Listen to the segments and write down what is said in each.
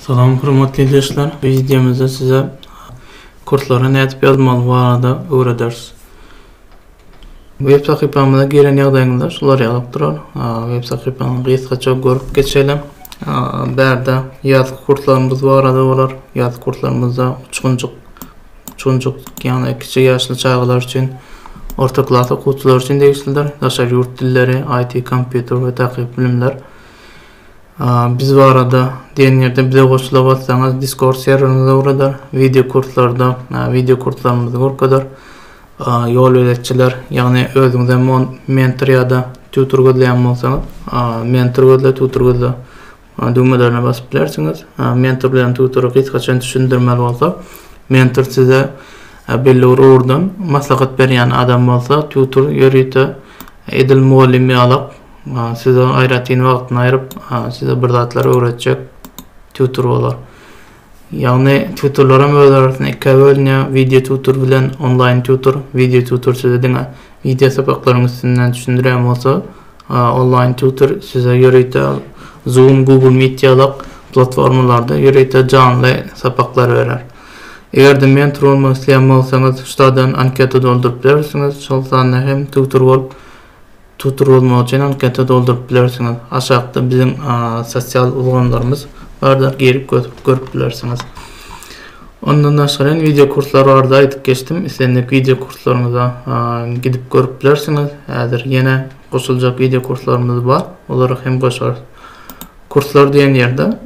Salam hormatly ildeşler. Bu wideomyzda size kurslara nädip ýazmaly barada öwrederis. Web sahypamyza giren ýagdaýyňyzda şular ýazyp durar. Web sahypany gysgaça görüp geçelim. Bärde ýazky kurslarymyz barada bolar. Ýazky kurslarymyzda uçgunjyk, uçgunjyk ýagny kiçi ýaşly çagalar üçin, orta klas okuwçylary üçin degişlidir. Daşary ýurt dilleri, IT, kompýuter we takyk bilimler. Biz barada diýen ýerde bize goşula bassaňyz Discord serwerimize ugradar, wideo kurslarda wideo kurslarymyzy görkezer, ýol gözetçiler, ýagny özüňize mentor ýa-da tutor gözleýän bolsaňyz, mentor gözle, tutor gözle düwmelerine basyp bilersiňiz. Mentor bilen tutory gysgaça düşündirmeli bolsa, mentor size belli bir ugurdan maslahat berýän adam bolsa, tutor ýörite edil mugallym ýalak Size aýratyn wagtyny aýryp, size bir zatlar öwretjek tutor bolar. Ýagny tutorlar hem öz arasynda ikä bölünýär. Video tutor bilen onlaýn tutor. Video tutor size diňe video sapaklaryň üstünden düşündirýän bolsa, onlaýn tutor size ýörite Zoom, Google Meet ýaly platformalarda ýörite janly sapaklar berer. Eger-de mentor bolmak isleýän bolsaňyz, ştadan anketa dolduryp bilersiňiz. Şol sanda hem tutor bolup Tuturylmak üçin anketa dolduryp bilersiňiz. Aşakda biziň sosial ulgamlarymyz bardyr, girip götürip görüp bilersiňiz. Ondan daşgary hem wideo kurslar barada aýdyp geçdim. Islendik wideo kurslaryňyza gidip görüp bilersiňiz. Häzir ýene goşuljak wideo kurslarymyz bar. Olary hem goşarys. Kurslar diýen ýerde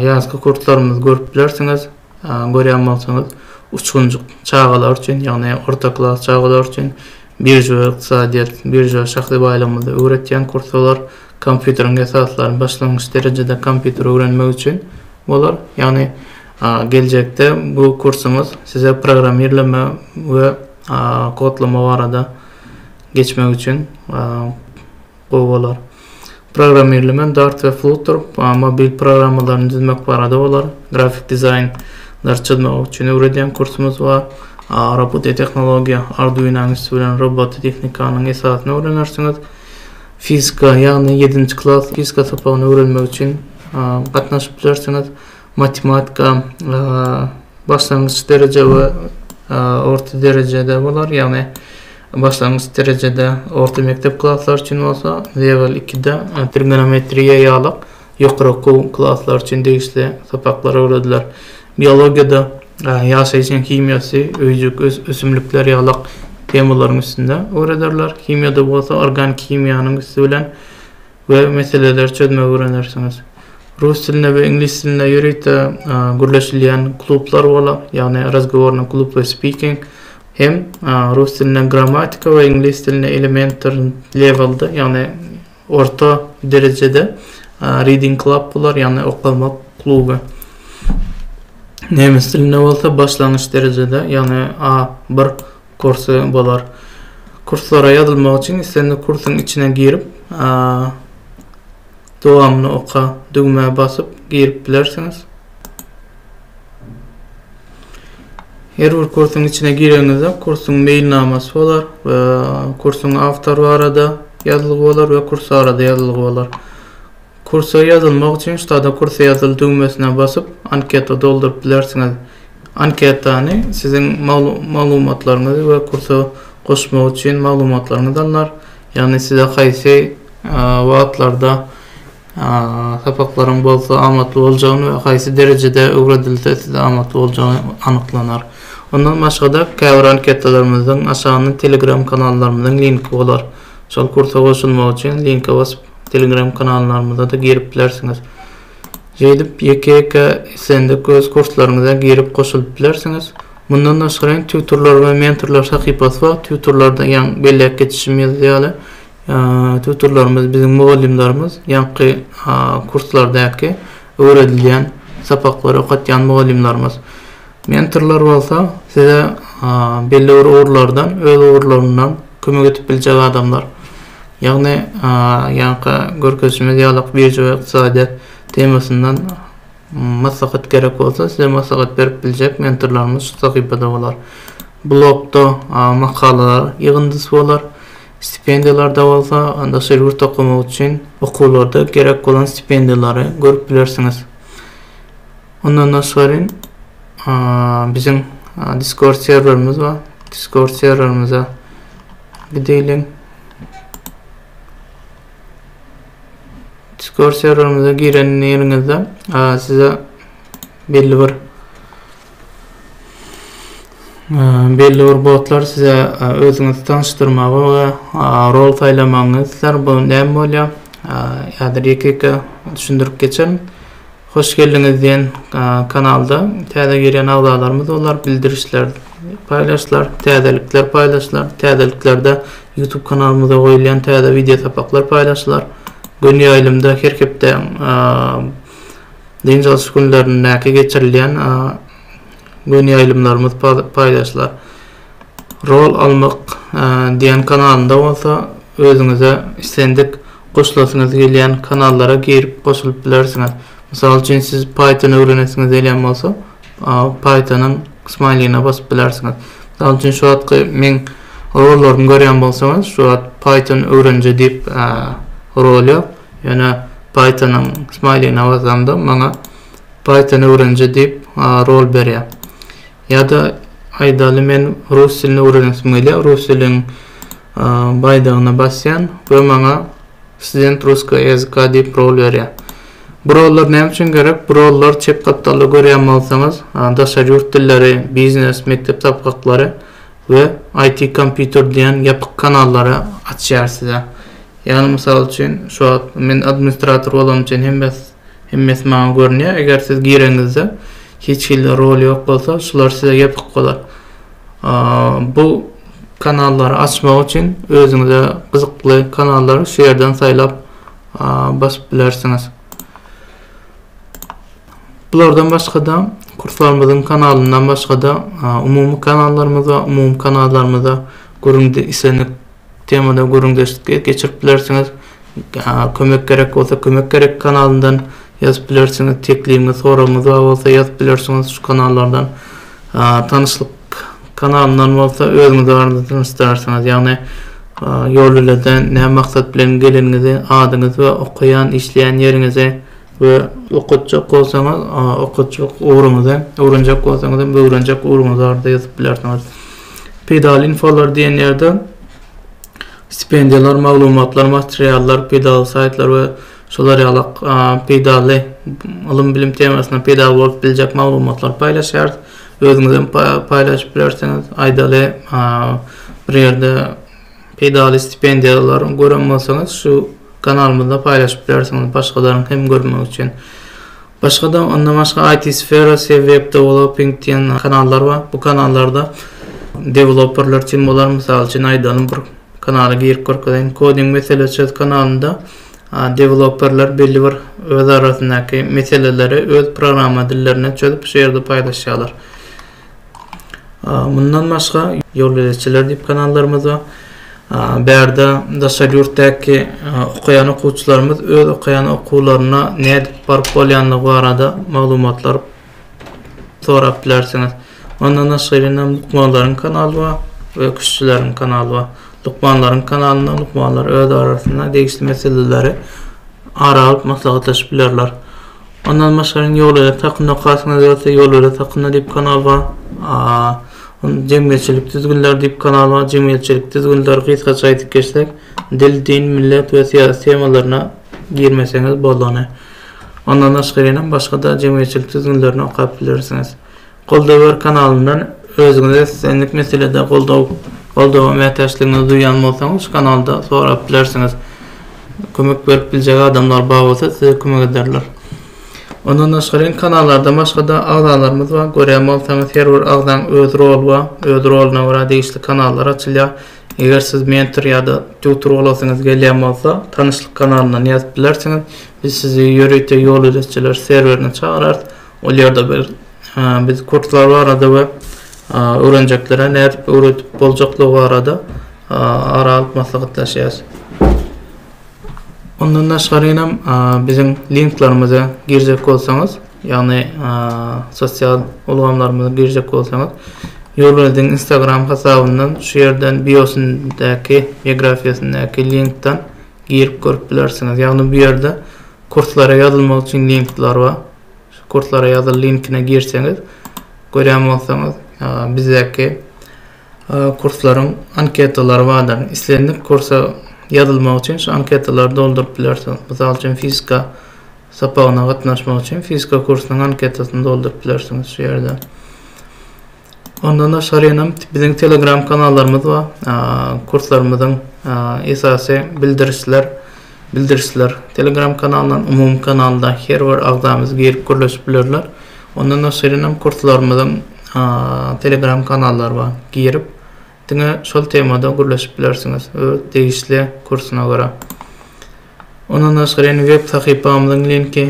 ýazky kurslarymyzy görüp bilersiňiz. Görýän bolsaňyz, uçgunjyk çagalar üçin, ýagny orta klas çagalar üçin birža ykdysadyýet, birža şahsy baýlygymyzy öwretýän kurslar, kompýuteriň esaslary başlangyç derejede kompýuter öwrenmek üçin bolar. Ýagny geljekde bu kursyňyz size programmirleme we kodlama barada geçmek üçin gowy bolar. Programmirlemen Dart we Flutter mobil programmalaryny düzmek barada bolar. Grafik dizaýn lary çyzmak üçin öwredýän kursumyz bar. Robot tehnologiýa Arduinonyň üsti bilen robot tehnikanyň esasyny öwrenersiňiz. Fizika ýagny 7-nji klas fizika sapagyny öwrenmek üçin gatnaşyp bilersiňiz. matematika başlangyç dereje we orta derejede bolar, ýagny başlangyç derejede orta mekdep klaslary üçin bolsa level 2-de trigonometriýa ýaly ýokary okuw klaslary üçin degişli sapaklar öwrediler. Biologiýada ýaşaýşyň himiýasy, öýjük, ösümlikler ýaly temalaryň üstünde öwrederler. Himiýada bolsa organik himiýanyň üsti bilen we meseleleri çözmegi öwrenersiňiz. Rus dilinde we iňlis dilinde ýörite gürleşilýän klublar bolar, ýagny Razgowornyý klub we Speaking hem rus dilinde grammatika we iňlis dilinde elementar levelda, ýagny orta derejede Reading Club bolar, ýagny okamak kluby. Nemes dilinde bolsa başlangyç derejede, ýagny A1 Kursy bolar. Kurslara ýazylmak üçin islendik kursyň içine girip, Dowamyny oka düwmä basyp girip bilersiňiz. Her bir kursuň içine gireňizde kursuň meýilnamasy bolar we kursuň awtor barada ýazylgy bolar we kurs barada ýazylgy bolar. Kursa ýazylmak üçin Stada kursa ýazyl düwmesine basyp, anketa dolduryp bilersiňiz. Anketany siziň maglumatlaryňyzy we kursa goşmak üçin maglumatlaryňyzy alnar, ýagny size haýsy wagtlarda sapaklaryň bolsa amatly boljagyny we haýsy derejede öwredilse size amatly boljagy anyklanar. Ondan başga-da käbir anketalarymyzyň aşagynda Telegram kanallarymyzyň linki bolar. Şol kursa goşulmak üçin linke basyp, Telegram kanallarymyza-da girip bilersiňiz. Şeýdip, ýeke-ýeke islendik öz kurslaryňyza girip goşulyp bilersiňiz. Mundan daşgary hem tutorlar we mentorlar sahypasy bar. Tutorlarda ýa belläp geçişim ýaly ýaly tutorlarymyz biziň mugallymlarymyz ýaňky kurslardaky öwredilýän sapaklary okatýan mugallymlarymyz. Mentorlar bolsa size belli bir ugurlardan, öz ugurlaryndan kömek edip biljek adamlar. Ýagny, ýanky görkezişimiz ýaly birja we ykdysadyýet temasyndan maslahat gerek bolsa, size maslahat berip biljek mentorlarymyz şu sahypada bolar. Blogda makalalar ýygyndysy bolar. Stipendiýalarda bolsa, daşary ýurtda okamak üçin okuwlarda gerek bolan stipendiýalary görüp bilersiňiz. Ondan daşgary biziň Discord serwerimiz bar. Discord serwerimize gideýliň. Discord serwerimize giren ýeriňizde size belli bir belli bir botlar size özüňizi tanıştyrmagy we rol saýlamagyňyzy isler. Bu näme bolýar? Häzir ýeke-ýeke düşündirip geçerin. Hoş geldiňiz diýen kanalda täze girýän agzalarymyz bolar, bildirişler paýlaşlar, täzelikler paýlaşlar, täzeliklerde YouTube kanalymyza goýulýan täze wideo sapaklar paýlaşlar. Gün ýaýlymda her hepde dynç alyş günlerindäki geçirilýän gün ýaýlymlarymyz paýlaşlar. Rol almak diýen kanalynda bolsa özüňize islendik goşulasyňyz gelýän kanallara girip goşulyp bilersiňiz. Mysal üçin siz Python öwrenesiňiz gelýän bolsa Pythonyň smaliýine basyp bilersiňiz. Mysal üçin şu wagtky meň rollarymy görýän bolsaňyz şu wagt Python öwreniji diýip rol ýok. Ýöne Pythonyň smaliýine basamda maňa Python öwreniji diýip rol berýär. Ýa-da aýdaly men rus dilini öwrenesim gelýär, rus diliniň baýdagyna basýan we maňa student russkoýa ýazyka diýip rol berýär. Bu rollar näme üçin gerek? Bu rollar çep gapdalda görýän bolsaňyz, daşary ýurt dilleri, biznes, mekdep sapaklyklary we IT kompýuter diýen ýapyk kanallary açýar size. Ýagny mysal üçin şu wagt men administrator bolanymçyn hemme Hemmesi maňa görünýär. Eger siz gireňizde hiç hili rol ýok bolsa, şular size ýapyk bolar. Bu kanallary açmak üçin özüňize gyzykly kanallary şu ýerden saýlap basyp bilersiňiz. Bulardan başga-da kurslarymyzyň kanalyndan başga-da umumy kanallarymyz bar. Umumy kanallarymyza gürüňde islendik Temada gürrüňdeşlik geçirip bilersiňiz. Kömek gerek bolsa kömek gerek kanalyndan ýazyp bilersiňiz. Teklibiňiz, soragyňyz bar bolsa ýazyp bilersiňiz şu kanallardan. Tanyşlyk kanalyndan bolsa özüňiz barada tanyşdyrarsyňyz. Ýagny ýol bilen näme maksat bilen geleniňizi, adyňyzy we okaýan, işleýän ýeriňizi we okatjak bolsaňyz, okatjak ugruňyzy, öwrenjek bolsaňyz hem öwrenjek ugruňyzy arda ýazyp bilersiňiz. Peýdaly infolar diýen ýerde stipendiýalar, maglumatlar, materiallar, peýdaly saýtlar we şolar ýaly peýdaly ylym-bilim temasyna peýdaly bolup biljek maglumatlar paýlaşýarys. Özüňiz hem paýlaşyp bilersiňiz. Aýdaly, bir ýerde peýdaly stipendiýalary gören bolsaňyz, şu kanalymyzda paýlaşyp bilersiňiz başgalaryň hem görmegi üçin. Başgada ondan başga IT sfera, SEO web developing diýen kanallar bar. Bu kanallarda developerler üçin bolar. Mysal üçin aýdalyň bir kanala girip görkezeýin. Coding mesele çöz kanalynda developerler belli bir öz arasyndaky meseleleri öz programma dillerinde çözüp şu ýerde paýlaşýarlar. Mundan başga, Ýolgezekçiler diýip kanallarymyz bar. Bärde daşary ýurtdaky okaýan okuwçylarymyz öz okaýan okuwlaryna nädip baryp bolýandygy barada maglumatlar sorap bilersiňiz. Ondan başga hem lukmanlaryň kanaly bar we küştçüleriň kanaly bar. Lukmanlaryň kanalynda lukmanlar öz arasynda degişli meseleleri ara alyp maslahatlaşyp bilerler. Ondan başga men ýolöýek hakynda okasyňyz gelse ýolöýek hakynda diýip kanal bar. Jemgyýetçilik düzgünleri diýip kanal bar. Jemgyýetçilik düzgünleri gysgaça aýdyp geçsek, dil, din, millet we syýasy temalaryna girmeseňiz bolany. Ondan başga ýene başga-da jemgyýetçilik düzgünlerini okap bilersiňiz. Goldaw ber kanalyndan özüňize islendik meselede goldaw goldawa mätäçligiňizi duýýan bolsaňyz şu kanalda sorap bilersiňiz kömek berip biljek adamlar bar bolsa size kömek ederler Ondan daşgaryň kanallarda başgada agzalarymyz bar görýän bolsaňyz her bir agzaň öz roly bar öz roluna görä degişli kanallar açylýar eger siz mentor ýa-da tutor bolasyňyz gelýän bolsa tanyşlyk kanalyndan ýazyp bilersiňiz biz sizi ýörite ýol gözetijiler serwerine çagyrarys Ol ýerde bir biz kurslar barada we öwrenjeklere nädip öwredip boljaklygy barada ara alyp maslahatlaşýarys. Ondan daşgary hem biziň linklerimize girjek bolsaňyz, ýagny sosial ulgamlarymyza girjek bolsaňyz, ýurduň Instagram hasabyndan şu ýerden biosyndaky biografiýasyndaky linkden girip görüp bilersiňiz. Ýagny bu ýerde kurslara ýazylmak üçin linkler bar. Şu kurslara ýazyl linkine girseňiz, görýän bolsaňyz, bizdäki kurslaryň anketalary bardyr. Islendik kursa ýazylmak üçin şu anketalary dolduryp bilersiňiz. Mysal üçin, fizika sapagyna gatnaşmak üçin fizika kursunyň anketasyny dolduryp bilersiňiz şu ýerde. Ondan daşgary ýene biziň Telegram kanallarymyz bar. Kurslarymyzyň esasy bildirişler bildirişler Telegram kanalyndan umumy kanalda her bir agzamyz girip gürleşip bilerler. Ondan daşgary ýene kurslarymyzyň Telegram kanallary bar. Girip Diňe şol temada gürleşip bilersiňiz, öz degişli kursuna görä. Ondan daşgary ýene web sahypamyzyň linki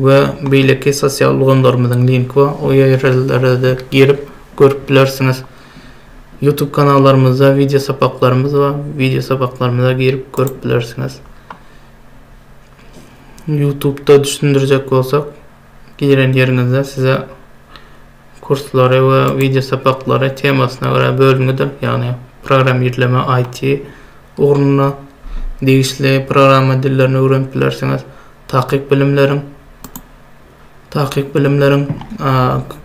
we beýleki sosial ulgamlarymyzyň linki bar. O ýerlere-de girip görüp bilersiňiz. YouTube kanallarymyzda wideo sapaklarymyz bar. Wideo sapaklarymyza girip görüp bilersiňiz. YouTube-da düşündirjek bolsak, giren ýeriňizde size kurslary we wideosapaklary temasyna görä bölünidir, ýagny programmirleme, IT, ugrunda degişli programma dillerini öwrenip bilersiňiz. Takyk bilimleriň takyk bilimleriň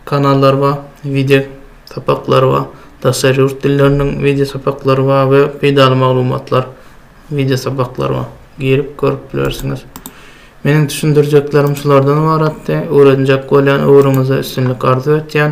kanallary bar, wideo sapaklary bar, daşary ýurt dilleriniň wideo sapaklary bar we peýdaly maglumatlar wideo sapaklary bar. Girip görüp bilersiňiz. Meniň düşündirjeklerim şulardan ybaratdy. Öwrenjek bolýan öwrüňizde üstünlik arzuw etýän.